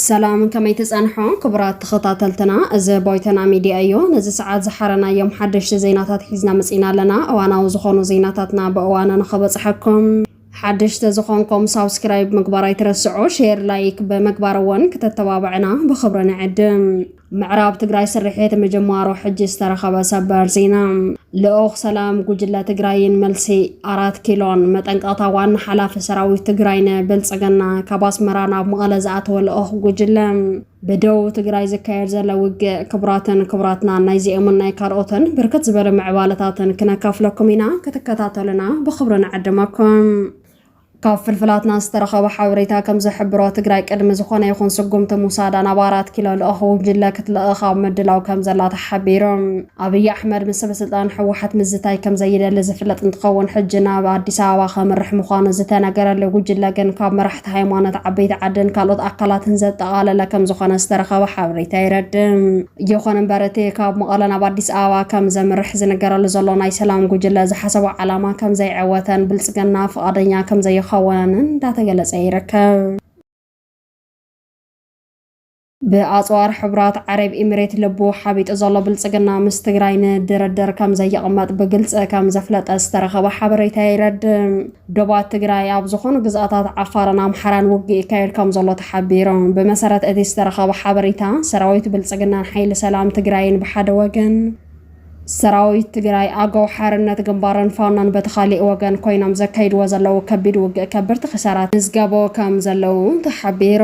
ሰላም ከመይ ትጸንሖ ክቡራት ተኸታተልትና፣ እዚ ቦይተና ሚድያ እዩ። ነዚ ሰዓት ዝሓረናዮም ሓደሽቲ ዜናታት ሒዝና መጺና ኣለና። እዋናዊ ዝኾኑ ዜናታትና ብእዋኑ ንኸበጽሐኩም ሓድሽ ተዝኾንኮም ሳብስክራይብ ምግባር ኣይትረስዑ ሼር ላይክ በመግባር እውን ክተተባብዕና ብክብሪ ንዕድም። ምዕራብ ትግራይ ስርሒት ምጅማሩ ሕጂ ዝተረኸበ ሰበር ዜና። ልኡኽ ሰላም ጉጅለ ትግራይን መልሲ ኣራት ኪሎን መጠንቀቕታ ዋና ሓላፊ ሰራዊት ትግራይ ንብልፅግና ካብ ኣስመራ ናብ መቐለ ዝኣተወ ልኡኽ ጉጅለ ብደቡብ ትግራይ ዝካየድ ዘሎ ውግእ ክቡራትን ክቡራትና ናይዚኦምን ናይ ካልኦትን ብርክት ዝበሉ ምዕባለታትን ክነካፍለኩም ኢና ክትከታተሉና ብክብሪ ንዕድመኩም ካብ ፍልፍላትና ዝተረኸበ ሓበሬታ ከም ዝሕብሮ ትግራይ ቅድሚ ዝኾነ ይኹን ስጉምቲ ሙሳዳ ናብ ኣራት ኪሎ ልኡኽ ጉጅለ ክትልእኽ ኣብ ምድላው ከም ዘላ ተሓቢሩ። ኣብይ ኣሕመድ ምስ ሰበስልጣን ህወሓት ምዝታይ ከምዘይደሊ ዝፍለጥ እንትኸውን ሕጂ ናብ ኣዲስ ኣበባ ከምርሕ ምዃኑ ዝተነገረሉ ጉጅለ ግን ካብ መራሕቲ ሃይማኖት፣ ዓበይቲ ዓድን ካልኦት ኣካላትን ዘጠቓለለ ከምዝኾነ ዝተረኸበ ሓበሬታ የረድእ። ይኹን እምበር እቲ ካብ መቐለ ናብ ኣዲስ ኣበባ ከምዘምርሕ ዝንገረሉ ዘሎ ናይ ሰላም ጉጅለ ዝሓሰቦ ዓላማ ከምዘይዐወተን ብልፅግና ፍቓደኛ ከምዘይኸውንን እንዳተገለፀ ይርከብ። ብኣፅዋር ሕቡራት ዓረብ ኢሚሬት ልቡ ሓቢጡ ዘሎ ብልፅግና ምስ ትግራይ ንድርድር ከምዘይቕመጥ ብግልፂ ከምዘፍለጠ ዝተረኸበ ሓበሬታ የረድእ። ዶባት ትግራይ ኣብ ዝኾኑ ግዝኣታት ዓፋርን ኣምሓራን ውግእ ይካየድ ከምዘሎ ተሓቢሩ። ብመሰረት እቲ ዝተረኸበ ሓበሬታ ሰራዊት ብልፅግናን ሓይሊ ሰላም ትግራይን ብሓደ ወገን፣ ሰራዊት ትግራይ፣ ኣገው ሓርነት ግንባርን ፋኖን በቲ ካሊእ ወገን ኮይኖም ዘካይድዎ ዘለዉ ከቢድ ውግእ ከብርቲ ክሳራ ተመዝገቦ ከም ዘለዉ እውን ተሓቢሩ።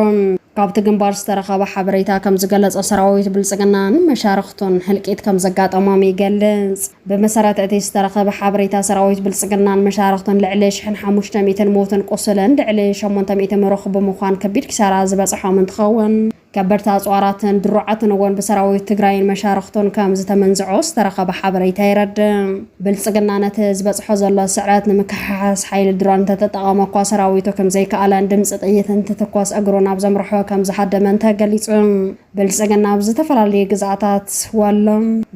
ካብቲ ግንባር ዝተረኸበ ሓበሬታ ከም ዝገለፆ ሰራዊት ብልፅግናን መሻርኽቱን ህልቂት ከም ዘጋጠሞም ይገልፅ። ብመሰረት እቲ ዝተረኸበ ሓበሬታ ሰራዊት ብልፅግናን መሻርኽቱን ልዕሊ ሽሕን ሓሙሽተ ሚእትን ሙውትን ቁሱልን ልዕሊ ሸሞንተ ሚእቲ ምሩኽ ብምዃን ከቢድ ኪሳራ ዝበፀሖም እንትኸውን፣ ከበድቲ ኣፅዋራትን ድሩዓትን እውን ብሰራዊት ትግራይን መሻርኽቱን ከም ዝተመንዝዑ ዝተረኸበ ሓበሬታ የረድእ። ብልፅግና ነቲ ዝበፅሖ ዘሎ ስዕረት ንምክሕሓስ ሓይሊ ድሮን እንተተጠቐመ እኳ ሰራዊቱ ከም ዘይከኣለን ድምፂ ጥይት እንትትኮስ እግሩ ናብ ዘምርሖ ከም ዝሃደመን ተገሊፁ። ብልፅግና ኣብ ዝተፈላለዩ ግዝኣታት ወሎ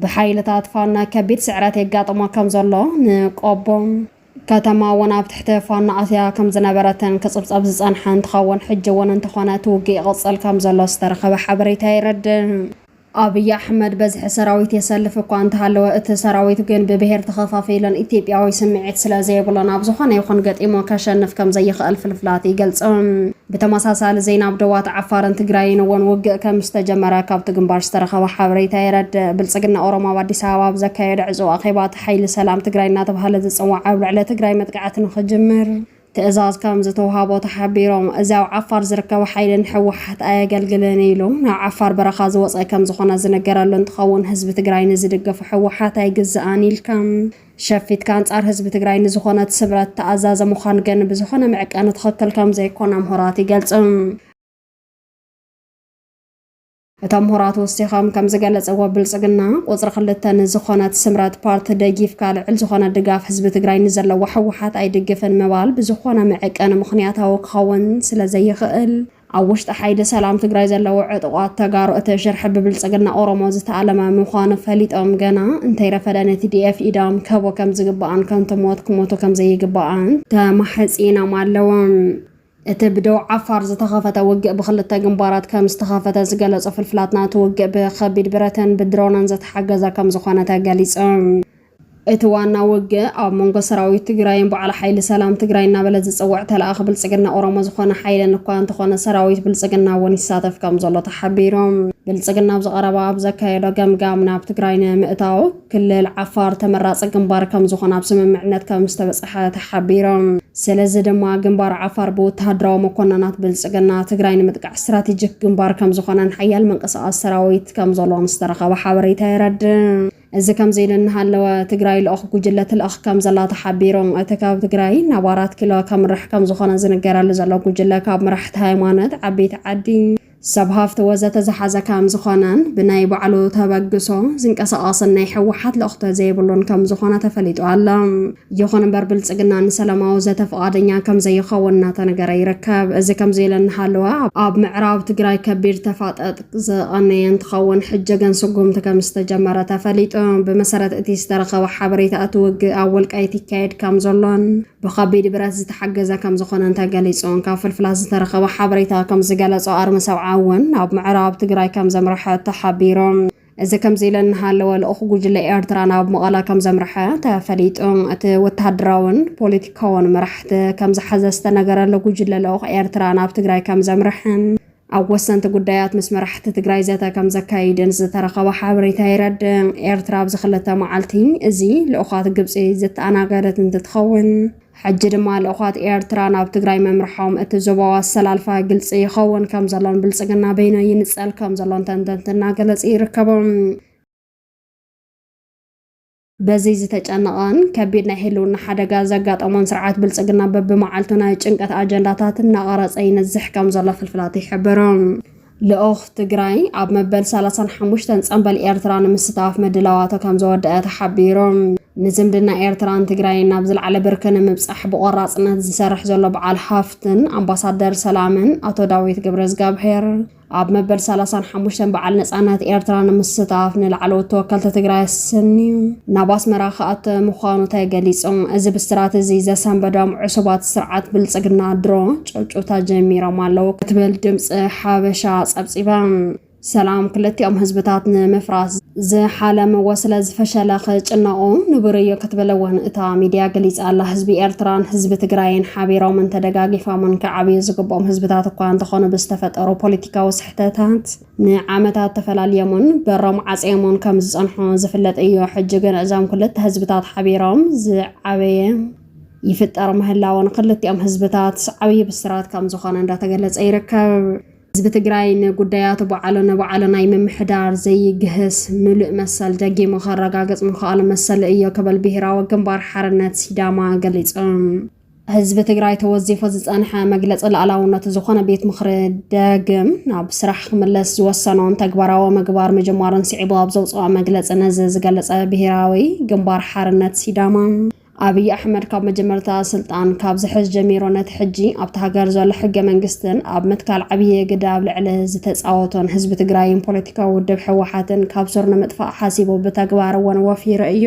ብሓይልታት ፋኖ ከቢድ ስዕረት የጋጥሞ ከም ዘሎ ንቆቦ፣ ከተማ እውን ኣብ ትሕቲ ፋኖ ኣትያ ከም ዝነበረትን ክጽብጸብ ዝጸንሐ እንትኸውን ሕጂ እውን እንተኾነ እቲ ውግእ ይቕጽል ከም ዘሎ ዝተረኸበ ሓበሬታ የረድእ። ኣብይ ኣሕመድ በዝሒ ሰራዊት የሰልፍ እኳ እንተሃለወ እቲ ሰራዊት ግን ብብሄር ተኸፋፊሉን ኢትዮጵያዊ ስምዒት ስለ ዘይብሉን ኣብ ዝኾነ ይኹን ገጢሙ ከሸንፍ ከም ዘይኽእል ፍልፍላት ይገልጹ። ብተመሳሳሊ ዜና ኣብ ዶባት ዓፋርን ትግራይን እውን ውግእ ከም ዝተጀመረ ካብቲ ግንባር ዝተረኸበ ሓበሬታ የረድእ። ብልጽግና ኦሮሞ ኣብ ኣዲስ ኣበባ ኣብ ዘካየዶ ዕጹው ኣኼባ ሓይሊ ሰላም ትግራይ እናተብሃለ ዝፅዋዕ ኣብ ልዕሊ ትግራይ መጥቃዕቲ ንኽጅምር ትእዛዝ ከምዝተውሃቦ ተሓቢሮም። እዚ ኣብ ዓፋር ዝርከብ ሓይሊ ንህወሓት ኣየገልግልን ኢሉ ናብ ዓፋር በረኻ ዝወፀ ከምዝኾነ ዝንገረሉ እንትኸውን ህዝቢ ትግራይ ንዝድገፎ ህወሓት ኣይግዛእን ኢልካ ሸፊትካ ኣንፃር ህዝቢ ትግራይ ንዝኾነት ስምረት ተኣዛዘ ምዃን ግን ብዝኾነ መዕቀኒ ትኽክል ከምዘይኮነ ምሁራት ይገልፁ። እቶም ምሁራት ወሲኾም ከም ዝገለፀዎ ብልፅግና ቁፅሪ ክልተ ንዝኾነት ስምረት ፓርቲ ደጊፍካ ልዕል ዝኾነ ድጋፍ ህዝቢ ትግራይ ንዘለዎ ህወሓት ኣይድግፍን ምባል ብዝኾነ መዕቀኒ ምኽንያታዊ ክኸውን ስለ ዘይኽእል ኣብ ውሽጢ ሓይሊ ሰላም ትግራይ ዘለዉ ዕጡቋት ተጋሩ እቲ ሽርሒ ብብልፅግና ኦሮሞ ዝተኣለመ ምዃኑ ፈሊጦም ገና እንተይረፈደ ንቲዲኤፍ ኢዶም ክህቡ ከም ዝግባእን ከንቱ ሞት ክሞቱ ከም ዘይግባእን ተማሕፂኖም ኣለዉ። እቲ ብደቡብ ዓፋር ዝተኸፈተ ውግእ ብኽልተ ግንባራት ከም ዝተኸፈተ ዝገለጹ ፍልፍላትና፣ እቲ ውግእ ብከቢድ ብረትን ብድሮንን ዝተሓገዘ ከም ዝኾነ ተገሊጹ። እቲ ዋና ውግእ ኣብ መንጎ ሰራዊት ትግራይን በዓል ሓይሊ ሰላም ትግራይ እናበለ ዝጽውዕ ተለኣኺ ብልጽግና ኦሮሞ ዝኾነ ሓይልን እኳ እንተኾነ ሰራዊት ብልጽግና እውን ይሳተፍ ከም ዘሎ ተሓቢሩ። ብልጽግና ኣብዚ ቀረባ ኣብ ዘካየዶ ገምጋም ናብ ትግራይ ንምእታው፣ ክልል ዓፋር ተመራፂ ግንባር ከምዝኾን ኣብ ስምምዕነት ከምዝተበፀሐ ተሓቢሩ። ስለዚ ድማ ግንባር ዓፋር ብወተሃደራዊ መኮነናት ብልፅግና ትግራይ ንምጥቃዕ ስትራቴጂክ ግንባር ከምዝኾነን ሓያል ምንቅስቓስ ሰራዊት ከምዘሎን ዝተረኸበ ሓበሬታ የረድእ። እዚ ከምዚ ኢሉ እናሃለወ ትግራይ ልኡኽ ጉጅለ ትልእኽ ከምዘላ ተሓቢሩ። እቲ ካብ ትግራይ ናብ ኣራት ኪሎ ከምርሕ ከምዝኾነ ዝንገረሉ ዘሎ ጉጅለ ካብ መራሕቲ ሃይማኖት፣ ዓበይቲ ዓዲ፣ ሰብ ሃፍቲ ወዘተ ዝሓዘ ከም ዝኾነን ብናይ ባዕሉ ተበግሶ ዝንቀሳቐስን ናይ ሕወሓት ልእኽቶ ዘይብሉን ከም ዝኾነ ተፈሊጡ ኣሎ። ይኹን እምበር ብልፅግና ንሰላማዊ ዘተ ፍቓደኛ ከም ዘይኸውን እናተነገረ ይርከብ። እዚ ከምዚ ኢሉ እናሃለወ ኣብ ምዕራብ ትግራይ ከቢድ ተፋጠጥ ዝቐነየ እንትኸውን ሕጂ ግን ስጉምቲ ከም ዝተጀመረ ተፈሊጡ። ብመሰረት እቲ ዝተረኸበ ሓበሬታ እቲ ውግእ ኣብ ወልቃይት ይካየድ ከም ዘሎን ብከቢድ ብረት ዝተሓገዘ ከምዝኾነን ተገሊፁ። ካብ ፍልፍላት ዝተረኸበ ሓበሬታ ከምዝገለፆ ኣርሚ ሰብዓ እውን ናብ ምዕራብ ትግራይ ከምዘምረሐ ተሓቢሩ። እዚ ከምዚ ኢለ እናሃለወ ልኡኽ ጉጅለ ኤርትራ ናብ መቐለ ከምዘምረሐ ተፈሊጡ። እቲ ወተሃደራውን ፖለቲካውን መራሕቲ ከምዝሓዘ ዝተነገረሉ ጉጅለ ልኡኽ ኤርትራ ናብ ትግራይ ከምዘምረሐን ኣብ ወሰንቲ ጉዳያት ምስ መራሕቲ ትግራይ ዘተ ከም ዘካይድን ዝተረኸበ ሓበሬታ የረድእ። ኤርትራ ኣብዚ ክልተ መዓልቲ እዚ ልኡኻት ግብጺ ዘተኣናገደት እንትትኸውን፣ ሕጂ ድማ ልኡኻት ኤርትራ ናብ ትግራይ ምምርሖም እቲ ዞባዊ ኣሰላልፋ ግልጺ ይኸውን ከም ዘሎን ብልጽግና በይኑ ይንጸል ከም ዘሎን ተንተንቲ እናገለጹ ይርከቡ። በዚ ዝተጨነቐን ከቢድ ናይ ህልውና ሓደጋ ዘጋጠሞን ስርዓት ብልፅግና በብመዓልቱ ናይ ጭንቀት ኣጀንዳታት እናቐረፀ ይነዝሕ ከም ዘሎ ፍልፍላት ይሕብሩ። ልኡኽ ትግራይ ኣብ መበል 35 ፀንበል ኤርትራ ንምስታፍ ምድላዋቶ ከም ዘወደአ ተሓቢሩ። ንዝምድና ኤርትራን ትግራይን ናብ ዝለዓለ ብርኪ ንምብፃሕ ብቆራፅነት ዝሰርሕ ዘሎ በዓል ሃፍትን ኣምባሳደር ሰላምን ኣቶ ዳዊት ገብረዝጋብሄር ኣብ መበል ሰላሳን ሓሙሽተን በዓል ነፃነት ኤርትራ ንምስታፍ ንላዕለዎት ተወከልቲ ትግራይ ኣሰንዩ ናብ ኣስመራ ክኣተ ምዃኑ ተገሊጹ። እዚ ብስራት እዚ ዘሰንበዶም ዕሱባት ስርዓት ብልጽግና ድሮ ጭውጭውታ ጀሚሮም ኣለዉ ክትብል ድምፂ ሓበሻ ጸብጺባ። ሰላም ክልቲኦም ህዝብታት ንምፍራስ ዝሓለምዎ ስለ ዝፈሸለ ክጭነቑ ንቡር እዩ ክትብል እውን እታ ሚድያ ገሊፃ ኣላ። ህዝቢ ኤርትራን ህዝቢ ትግራይን ሓቢሮምን ተደጋጊፋሙን ክዓብዩ ዝግብኦም ህዝብታት እኳ እንተኾኑ ብዝተፈጠሩ ፖለቲካዊ ስሕተታት ንዓመታት ተፈላልዮምን በሮም ዓፅዮምን ከም ዝፀንሑ ዝፍለጥ እዩ። ሕጂ ግን እዞም ክልተ ህዝብታት ሓቢሮም ዝዓበየ ይፍጠር ምህላዉ ንክልቲኦም ህዝብታት ዓብዪ ብስራት ከም ዝኾነ እንዳተገለፀ ይርከብ። ህዝቢ ትግራይ ንጉዳያቱ ባዕሉ ንባዕሉ ናይ ምምሕዳር ዘይግህስ ምሉእ መሰል ደጊሙ ከረጋግፅ ምኽኣሉ መሰሉ እዮ ክብል ብሄራዊ ግንባር ሓርነት ሲዳማ ገሊፁ። ህዝቢ ትግራይ ተወዚፉ ዝፀንሐ መግለፂ ላእላውነቱ ዝኾነ ቤት ምኽሪ ደግም ናብ ስራሕ ክምለስ ዝወሰኖን ተግባራዊ ምግባር ምጅማሩን ስዒቡ ኣብ ዘውፅኦ መግለፂ ነዚ ዝገለፀ ብሄራዊ ግንባር ሓርነት ሲዳማ ኣብይ ኣሕመድ ካብ መጀመርታ ስልጣን ካብ ዝሕዝ ጀሚሩ ነቲ ሕጂ ኣብታ ሃገር ዘሎ ሕገ መንግስትን ኣብ ምትካል ዓብዪ ግደ ኣብ ልዕሊ ዝተፃወቶን ህዝቢ ትግራይን ፖለቲካዊ ውድብ ህወሓትን ካብ ሱር ንምጥፋእ ሓሲቡ ብተግባር እውን ወፊሩ እዩ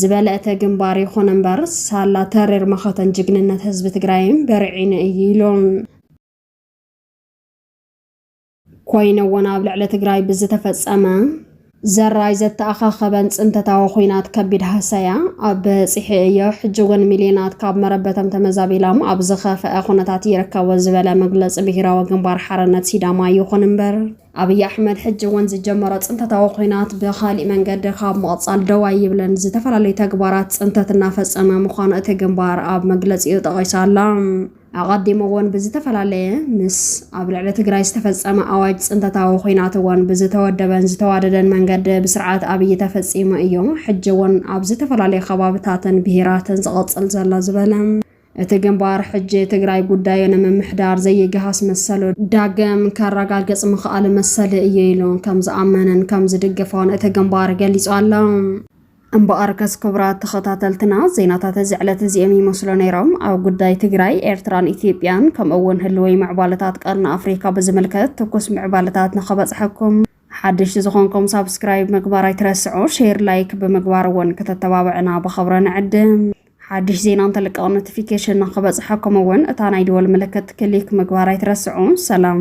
ዝበለ እቲ ግንባር ይኹን እምበር ሳላ ተሪር መኸተን ጅግንነት ህዝቢ ትግራይን በርዒኑ እዩ ኢሉ። ኮይኑ እውን ኣብ ልዕሊ ትግራይ ብዝተፈፀመ ዘራይ ዘተኣኻኸበን ፅንተታዊ ኹናት ከቢድ ሃሰያ ኣብ በፂሒ እዮ፣ ሕጂ እውን ሚሊዮናት ካብ መረበቶም ተመዛቢሎም ኣብ ዝኸፈኣ ኹነታት ይርከቡ ዝበለ መግለፂ ብሄራዊ ግንባር ሓርነት ሲዳማ ይኹን እምበር፣ ኣብይ ኣሕመድ ሕጂ እውን ዝጀመሮ ፅንተታዊ ኹናት ብኻሊእ መንገዲ ካብ ምቕፃል ደው ኣይብልን፣ ዝተፈላለዩ ተግባራት ፅንተት እናፈፀመ ምዃኑ እቲ ግንባር ኣብ መግለፂኡ ጠቒሱ ኣሎ። ኣቐዲሙ እውን ብዝተፈላለየ ምስ ኣብ ልዕሊ ትግራይ ዝተፈፀመ ኣዋጅ ፅንተታዊ ኹናት እውን ብዝተወደበን ዝተዋደደን መንገዲ ብስርዓት ኣብይ ተፈፂሙ እዩ። ሕጂ እውን ኣብ ዝተፈላለዩ ከባብታትን ብሄራትን ዝቐፅል ዘሎ ዝበለ እቲ ግንባር ሕጂ ትግራይ ጉዳዩ ንምምሕዳር ዘይገሃስ መሰሉ ዳግም ከረጋግፅ ምኽኣሉ መሰሊ እዩ ኢሉ ከምዝኣመነን ከምዝድግፎን እቲ ግንባር ገሊፁ ኣሎ። እምበኣርከስ ክቡራት ተኸታተልትና ዜናታት እዚ ዕለት እዚኦም ይመስሉ ነይሮም። ኣብ ጉዳይ ትግራይ፣ ኤርትራን ኢትዮጵያን ከምኡ እውን ህልወይ ምዕባለታት ቀርኒ ኣፍሪካ ብዝምልከት ትኩስ ምዕባለታት ንኸበፅሐኩም ሓደሽቲ ዝኾንኩም ሳብስክራይብ ምግባር ኣይትረስዑ፣ ሼር ላይክ ብምግባር እውን ከተተባብዕና ብኸብረ ንዕድም። ሓድሽ ዜና እንተልቀቕ ኖቲፊኬሽን ንክበፅሐኩም እውን እታ ናይ ደወል ምልክት ክሊክ ምግባር ኣይትረስዑ። ሰላም